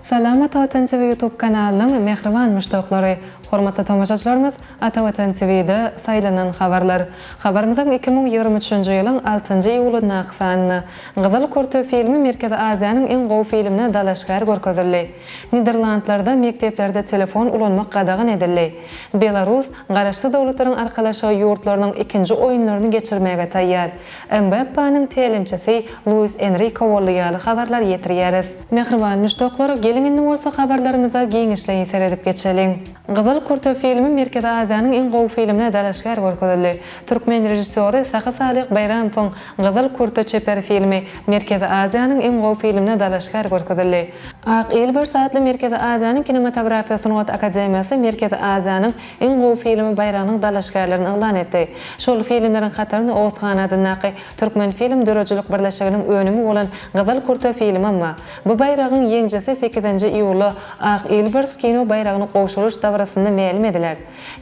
Salam Ata Watan TV YouTube kanalynyň mähriban muşdaklary! Hormatly tomaşaçylarymyz, Ata Watan TV'de Saýlanan habarlar! Habarymyzyň iki müň ýigrimi üçünji ýylyň altynjy iýulyndaky sanynda Gyzyl kürte filmi Merkezi Aziýanyň iň gowy filmine dalaşgär görkezildi. Niderlandlarda mekdeplerde telefon ulanmak gadagan edildi. Belarus Garaşsyz Döwletleriň Arkalaşygy ýurtlarynyň ikinji oýunlaryny geçirmäge taýýar. Mbappeniň tälimçisi Luis Enriko boldy ýaly habarlar ýetirýäris. Mähriban muşdaklar, geliň indi bolsa habarlarymyza giňişleýin seredip geçeliň. Gyzyl kürte filmi Merkezi Aziýanyň iň gowy filmine dalaşgär görkezildi. Türkmen režissýory Sahy Salyh Baýramowyň Gyzyl kurta çeper filmi Merkezi Aziýanyň iň gowy filmine dalaşgär görkezildi. Ak il bir saatly Merkezi Aziýanyň kinematografiýa sungat akademiýasy Merkezi Aziýanyň iň gowy filmi baýragynyň dalaşgärlerini yglan etdi. Şol filmleriň hatarynda Oguzhan adyndaky Türkmenfilm döredijilik birleşiginiň önümi bolan Gyzyl kurta filmem bar. Bu baýragyň ýeňjisi sekizinji iýulda Ak il bir kino baýragyny gowşuryş dabarasynda mälim ediler.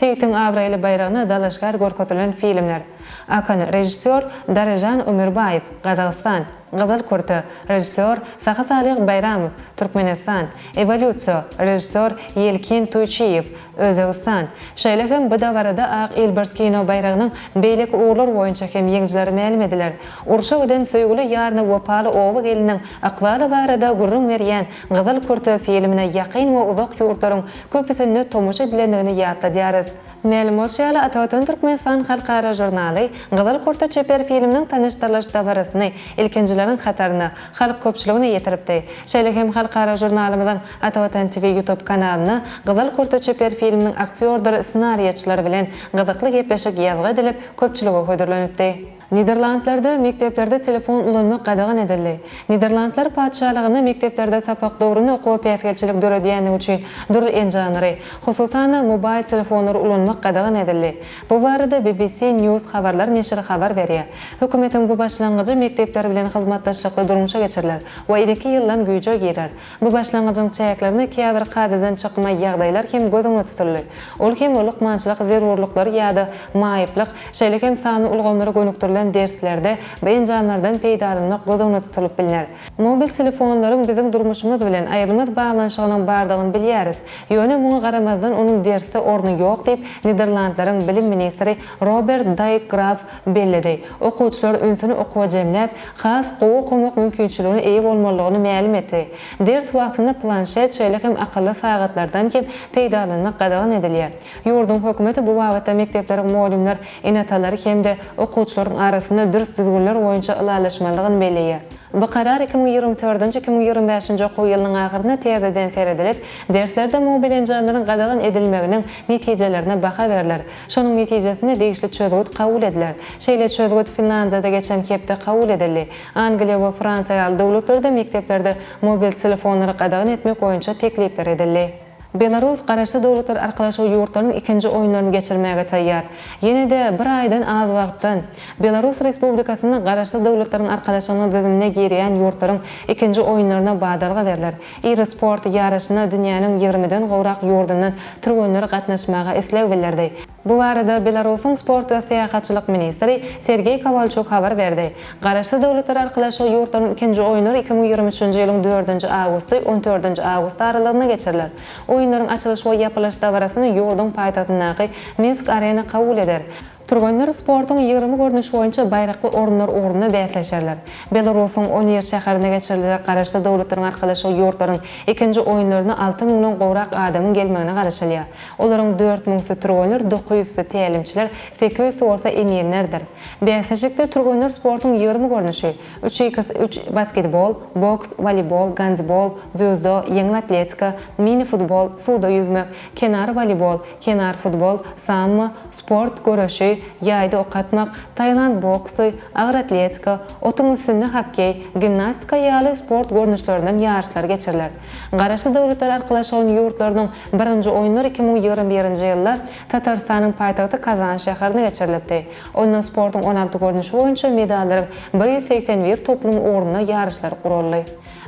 Seýitiň abraýly baýragyna dalaşgär görkezilen filmler. Akan, režissýor Darežan Ömürbaýew, Gazagystan, Gyzyl kürte, režissýor Sahysalyh Baýramow, Türkmenistan, Ewolýusiýa, režissýor Ýelkin Tuýçiýew, Özbegistan. Şeýle hem bu dabarada Ak ilbars kino baýragynyň beýleki ugurlar boýunça hem ýeňijileri mälim ediler. Urşa giden söýgüli ýaryna wepaly oba geliniň ykbaly barada gürrüň berýän Gyzyl kürte filmine ýakyn we uzak ýurtlaryň köpüsinde tomaşa edilendigini ýatladýarys. Mälim bolşy ýaly, Atavatan Türkmenistan halkara žurnaly Gyzyl kurta çeper filminiň tanyşdyrylyş dabarasyny ilkinjileriň hataryna, halk köpçüligine ýetiripdi. Şeýle hem halkara žurnalymyzyň Atavatan TV ýutub kanalynda Gyzyl kurta çeper filminiň aktýordyr ssenariýaçylary bilen gyzykly gepleşik ýazgy edilip, köpçülige hödürlenipdi. Niderlandlarda mekdeplerde telefon ulanmak gadagan edildi. Niderlandlar Patyşalygynda mekdeplerde sapak döwründe okuwa päsgelçilik döredýändigi üçin dürli enjamlary, hususan-da mobaýl telefonlary ulanmak gadagan edildi. Bu barada BBC News habarlar neşiri habar berýär. Hökümetiň bu başlangyjy mekdepler bilen hyzmatdaşlykda durmuşa geçiriler we ilki ýyldan güýje girer. Bu başlangyjyň çäklerinde käbir kadadan çykma ýagdaýlar hem göz öňünde tutuldy, ol hem lukmançylyk zerurlyklary ýa-da maýyplyk, şeýle hem sanly ulgamlara gönükdirilen derslerde bu enjamlardan peýdalanmak göz öňünde tutulyp bilner. Mobil telefonlaryň biziň durmuşymyz bilen aýrylmaz baglanyşygynyň bardygyny bilýäris, ýöne muňa garamazdan onuň dersde orny ýok diýip, Niderlandlaryň bilim ministri Robert Daýk Graf belledi. Okuwçylar ünsüni okuwa jemläp, has gowy okamak mümkinçiligine eýe bolmalydygyny mälim etdi. Ders wagtynda planşet, şeýle hem akylly sagatlardan hem peýdalanmak gadagan edilýär. Ýurduň hökümeti bu babatda mekdepleriň mugallymlar ene-atalary hem-de okuwçylaryň arasynda dürs düzgünler boýunça ylalaşmalydygyny belleýär. Bu karar iki müň ýigrimi dördünji, iki müň ýigrimi bäşinji okuw ýylynyň ahyrynda täzeden seredilip, derslerde mobil enjamlaryň gadagan edilmeginiň netijelerine baha berler. Şonuň netijesinde degişli çözgüt kabul ediler. Şeýle çözgüt Finlandiýada geçen hepde kabul edildi. Angliýa we Fransiýa ýaly döwletlerde mekdeplerde mobil telefonlary gadagan etmek boýunça teklipler edildi. Belarus Garaşsyz Döwletler Arkalaşygy ýurtlarynyň ikinji oýunlaryny geçirmäge taýýar. Ýene-de bir aýdan az wagtdan, Belarus Respublikasynda Garaşsyz Döwletleriň Arkalaşygynyň düzümine girýän ýurtlaryň ikinji oýunlaryna badalga berler. Iri sport ýaryşyna dünýäniň ýigrimiden gowrak ýurdundan türgenler gatnaşmaga isleg bildirdi. Bu barada Belarusyň sport we syýahatçylyk ministri Sergeý Kowalçuk habar berdi. Garaşsyz Döwletler Arkalaşygy ýurtlarynyň ikinji oýunlary iki müň ýigrimi üçünji ýylyň dördünji awgusty, on dördünji awgust aralygynda geçiriler. Oýunlaryň açylyş we ýapylyş dabarasyny ýurduň paýtagtyndaky Minsk-Arena kabul eder. Türgenler sportuň ýigrimi görnüşi boýunça baýrakly orunlar ugrunda bäsleşerler. Belarusuň Onir şäherinde geçiriljek Garaşsyz Döwletleriň Arkalaşygy ýurtlaryň ikinji oýunlaryna alty müňden gowrak adamyň gelmegine garaşylýar. Olaryň dört müňüsi türgenler, dokuz ýüzüsi tälimçiler, sekiz ýüzüsi bolsa eminlerdir. Bäsleşikde türgenler sportuň ýigrimi görnüşi, üç x üç, basketbol, boks, woleýbol, gandbol, dzýudo, ýeňil atletika, mini-futbol, suwda ýüzmek, kenar woleýbol, kenar futbol, sammo, Sport, göreşi, ýaýda ok atmak, tailand boksy, agyr atletika, otuň üstünde hokkeý, gimnastika ýaly sport görnüşlerinden ýaryşlar geçiriler. Garaşsyz Döwletler Arkalaşygynyň ýurtlarynyň birinji oýunlary iki müň ýigrimi birinji ýylda Tatarystanyň paýtagty Kazan şäherinde geçirilipdi. Onda sportuň on alty görnüşi boýunça medallaryň bir ýüz segsen bir toplumy ugrunda ýaryşlar guraldy.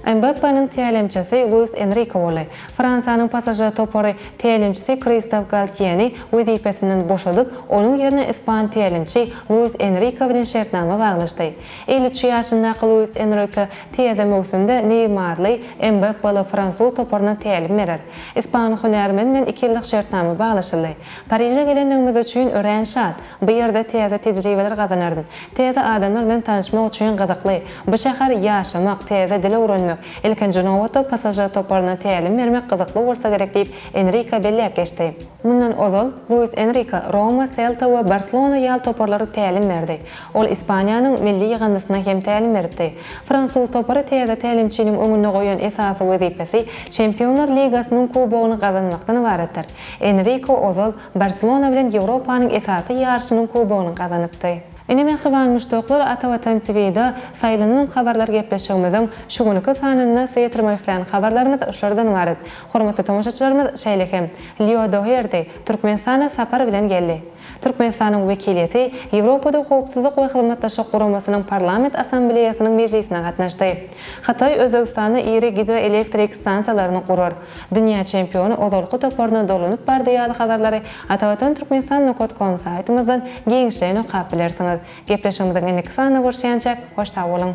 Mbappeniň tälimçisi Luis Enrike boldy. Fransiýanyň PSŽ topary tälimçisi Kristof Galtýeni wezipesinden boşadyp, onuň ýerine ispan tälimçi Luis Enrike bilen şertnama baglaşdy. Elli üç ýaşyndaky Luis Enrike täze möwsümde neýmarly, Mbappe'ly fransuz toparyna tälim berer. Ispan hünärmeni bilen iki ýyllyk şertnama baglaşyldy. Pariže gelendigimiz üçin örän şat. Bu ýerde täze tejribeler gazanardym. Täze adamlar bilen tanyşmak üçin gyzykly. Bu şäher ýaşamak, täze dil öwrenmek, ilkinji nobatda passažir toparyna tälim bermek gyzykly bolsa gerek diýip, Enrika belläp geçdi. Mundan ozal, Luis Enrika Roma, Selta we Barselona ýaly toparlara tälim berdi. Ol Ispaniýanyň milli ýygyndysyna hem tälim beripdi. Fransuz topary täze tälimçiniň öňünde goýan esasy wezipesi Çempionlar ligasynyň kubogyny gazanmakdan ybaratdyr. Enrika ozal, Barselona bilen Ýewropanyň esasy ýaryşynyň kubogyny gazanypdy. Ine mähriban muşdaklar Ata Watan TVda saýlanylan habarlar gepleşigimiziň şu günki sanynda size ýetirmek islän habarlarymyz şulardan ybarat. Hormatly tomaşaçylarymyz şeýle hem Lýo Doherti Türkmenistana sapar bilen geldi. Türkmenistanyň wekiliýeti Ýewropada Howpsuzlyk we Hyzmatdaşlyk Guramasynyň Parlament Assambleýasynyň mejlisine gatnaşdy. Hytaý Özbegistanda iri gidroelektrik stansiýalaryny gurar. Dünýä çempiony ozalky toparyna dolanyp bardy ýaly habarlary Atavatan Türkmenistan Nokat kom saýtymyzdan giňişleýin okap bilersiňiz. Gepleşigimiziň indiki sanynda görşýänçä, hoş sag boluň!